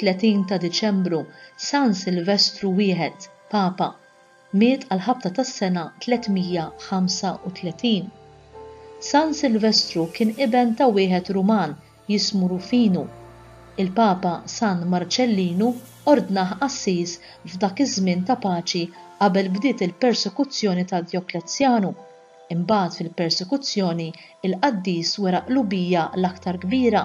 31 ta' Diċembru, San Silvestru I, Papa. Miet għall-ħabta tas-sena 335. San Silvestru kien iben ta' wieħed Ruman jismu Rufinu. Il-Papa San Marċellinu ordnah qassis f'dak iż-żmien ta' paċi qabel bdiet il-persekuzzjoni ta' Djoklezzjanu. Imbagħad fil-persekuzzjoni il-qaddis wera qlubija l-aktar kbira.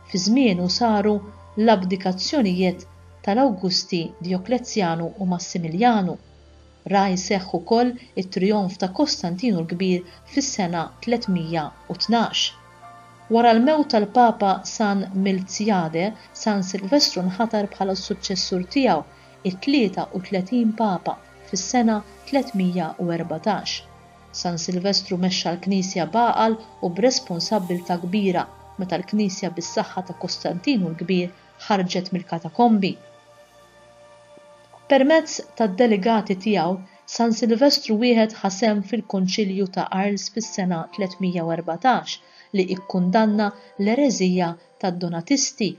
Fi żmienu saru l-abdikazzjonijiet tal-Awgusti, Dijoklezzjanu u Massimiljanu. Ra jseħħ ukoll it-trijonf ta' Kostantinu l-Kbir fis-sena 312. Wara l-mewt tal-Papa San Milzjade, San Silvestru nħatar bħala s-suċċessur tiegħu, it-33 Papa, fis-sena 314. San Silvestru mexxa l-Knisja b'għaqal u b'responsabbiltà kbira meta l-Knisja bis-saħħa ta' Kostantinu l-Kbir ħarġet mill-katakombi. Permezz tad-delegati tiegħu, San Silvestru Wieħed ħa sehem fil-Konċilju ta' Arles fis-sena 314 li ikkundanna l-ereżija tad-Donatisti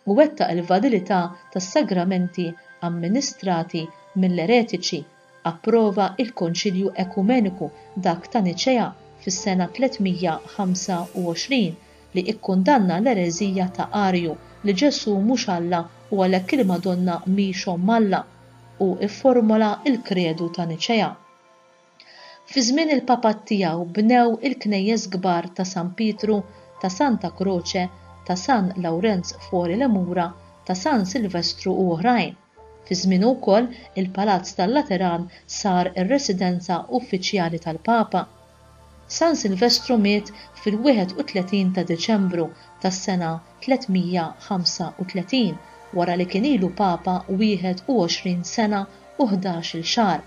u wettaq il-validità tas-sagramenti amministrati mill-eretiċi. approva l-Konċilju Ekumeniku, dak ta' Niċea, fis-sena 325, li ikkundanna l-ereżija ta' Arju, li Ġesù mhux Alla u għalhekk il-Madonna mhix Omm Alla, u fformula l-Kredu ta' Niċea. Fi żmien il-papat tiegħu bnew il-knejjes kbar ta' San Pietru, ta' Santa Croce, ta' San Lawrenz Fuori le Mura, ta' San Silvestru u oħrajn. Fi żmienu wkoll, il-Palazz tal-Lateran sar ir-residenza uffiċjali tal-Papa. San Silvestru miet fil-31 ta' Diċembru tas-sena 335 wara li kien ilu Papa 21 sena u ħdax-il xahar.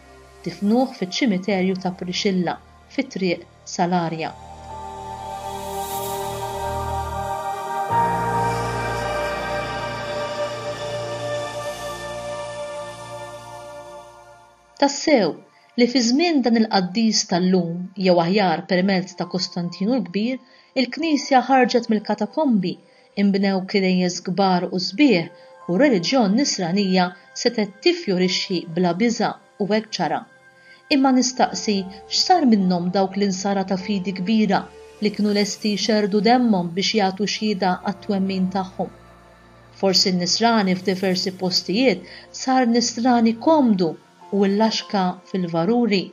Difnuh fiċ-ċimiterju ta' Priscilla, fi Triq sal-arja. Tassew, li fi żmien dan il-qaddis tal-lum, jew aħjar permezz ta' Kostantinu l-Kbir, il-Knisja ħarġet mill-katakombi, inbnew kirejjes kbar u sbieħ, u r-reliġjon Nisranija setgħet tiffjorixxi bla biża'. u hekk ġara. Imma nistaqsi x'sar minnhom dawk l-insara ta' fidi kbira li kienu lesti jxerrdu demmhom biex jagħtu xhieda għat-twemmin tagħhom? Forsi n-nisrani f'diversi postijiet sar nisrani komdu u illaxka fil-varuri.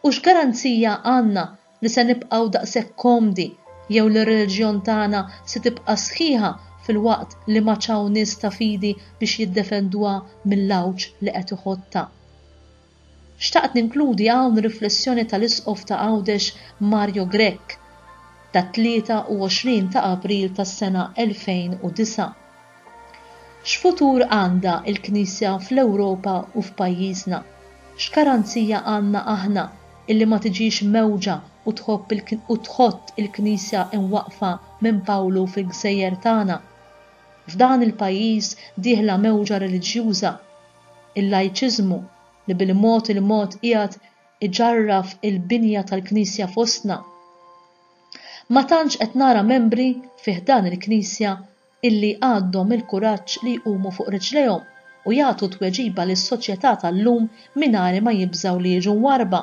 U x'garanzija għandna li se nibqgħu daqshekk komdi jew li r-reliġjon tagħna se tibqa' sħiħa filwaqt li m'għadx hawn nies ta' fidi biex jiddefenduha mill-għawġ li qed iħoddha. Xtaqt ninkludi hawn riflessjoni tal-Isqof ta' Għawdex Mario Grech, tat-23 ta' April tas-sena 2009. X'futur għandha l-Knisja fl-Ewropa u f'pajjiżna? X'garanzija għandna aħna illi ma tiġix mewġa u tħobb u tħott il-Knisja imwaqqfa minn Pawlu fil-gżejjer tagħna? F'dan il-pajjiż dieħla mewġa reliġjuża, il-lajċiżmu, li bil-mod il-mod qiegħed iġarraf il-binja tal-Knisja fostna. Ma tantx qed nara membri fi ħdan il-Knisja illi għandhom il-kuraġġ li jqumu fuq riġlejhom u jagħtu tweġiba lis-soċjetà tal-lum mingħajr ma jibżgħu li jiġu mwarrba.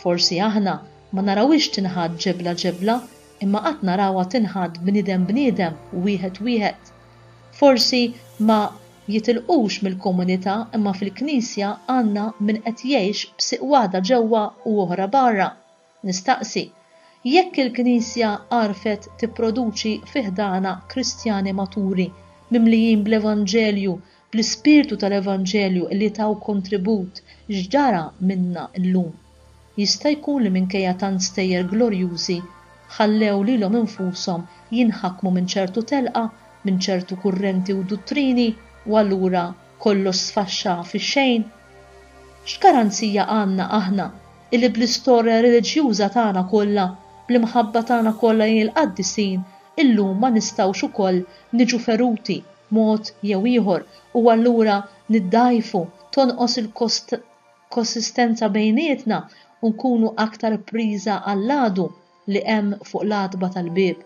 Forsi aħna ma narawhiex tinħadd ġebla ġebla imma qatt narawha tinħatt bniedem bniedem, wieħed wieħed. Forsi ma jitilqux mill-komunità imma fil-Knisja għandna min qed jgħix b'siq waħda ġewwa u oħra barra. Nistaqsi, Jekk il-Knisja għarfet tipproduċi fi ħdanha Kristjani maturi, mimlijin bl-Evanġelju, bl-ispirtu tal-Evanġelju li taw kontribut, x'ġara minnha llum? Jista' jkun li minkejja tant stejjer glorjużi, ħallew lilhom infushom jinħakmu minn ċertu telqa, minn ċertu kurrenti u duttrini, u allura kollox sfaxxa fix-xejn? X'garanzija għandna aħna illi bl-istorja reliġjuża tagħna kollha, bl-imħabba tagħna kollha lejn il-qaddisin, illum ma nistgħux ukoll niġu feruti b'mod jew ieħor u allura niddgħajfu, tonqos il-konsistenza bejnietna u nkunu aktar priża għall-għadu? li hemm fuq l-għatba tal-bieb.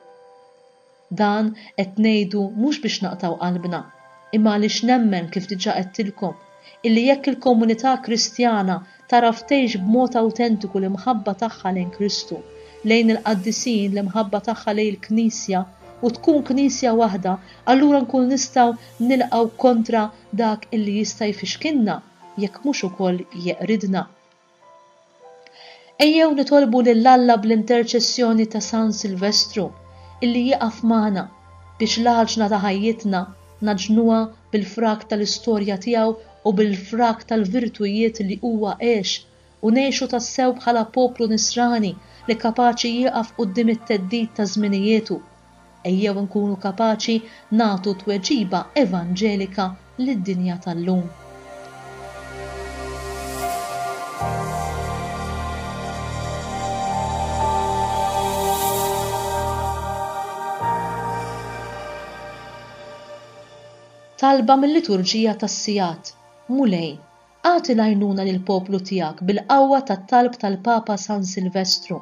Dan qed ngħidu mhux biex naqtgħu qalbna, imma għaliex nemmen kif diġà għedtilkom, illi jekk il-komunità Kristjana tagħraf tgħix b'mod awtentiku l-imħabba tagħha lejn Kristu, lejn il-qaddisin, l-imħabba tagħha lejn il-Knisja, u tkun Knisja waħda, allura nkunu nistgħu nilqgħu kontra dak illi jista' jfixkilna, jekk mhux ukoll jeqridna. Ejjew nitolbu lil Alla bl-interċessjoni ta' San Silvestru illi jieqaf magħna biex l-għaġna ta' ħajjitna ngħaġnuha bil-frak tal-istorja tiegħu u bil-frak tal-virtujiet li huwa għex u ngħixu tassew bħala poplu nisrani li kapaċi jieqaf quddiem it-theddid ta' żminiejietu Ejjew inkunu kapaċi nagħtu tweġiba evanġelika lid-dinja tal-lum. Talba mil-Liturġija tas-Sigħat, Mulej, Agħti l-għajnuna lill-poplu tiegħek bil-qawwa tat-talb tal-Papa San Silvestru,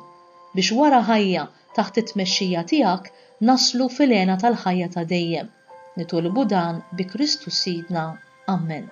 biex wara ħajja taħt it-tmexxija tiegħek naslu fil-hena tal-ħajja ta' dejjem. Nitolbu dan bi Kristu Sidna. Ammen.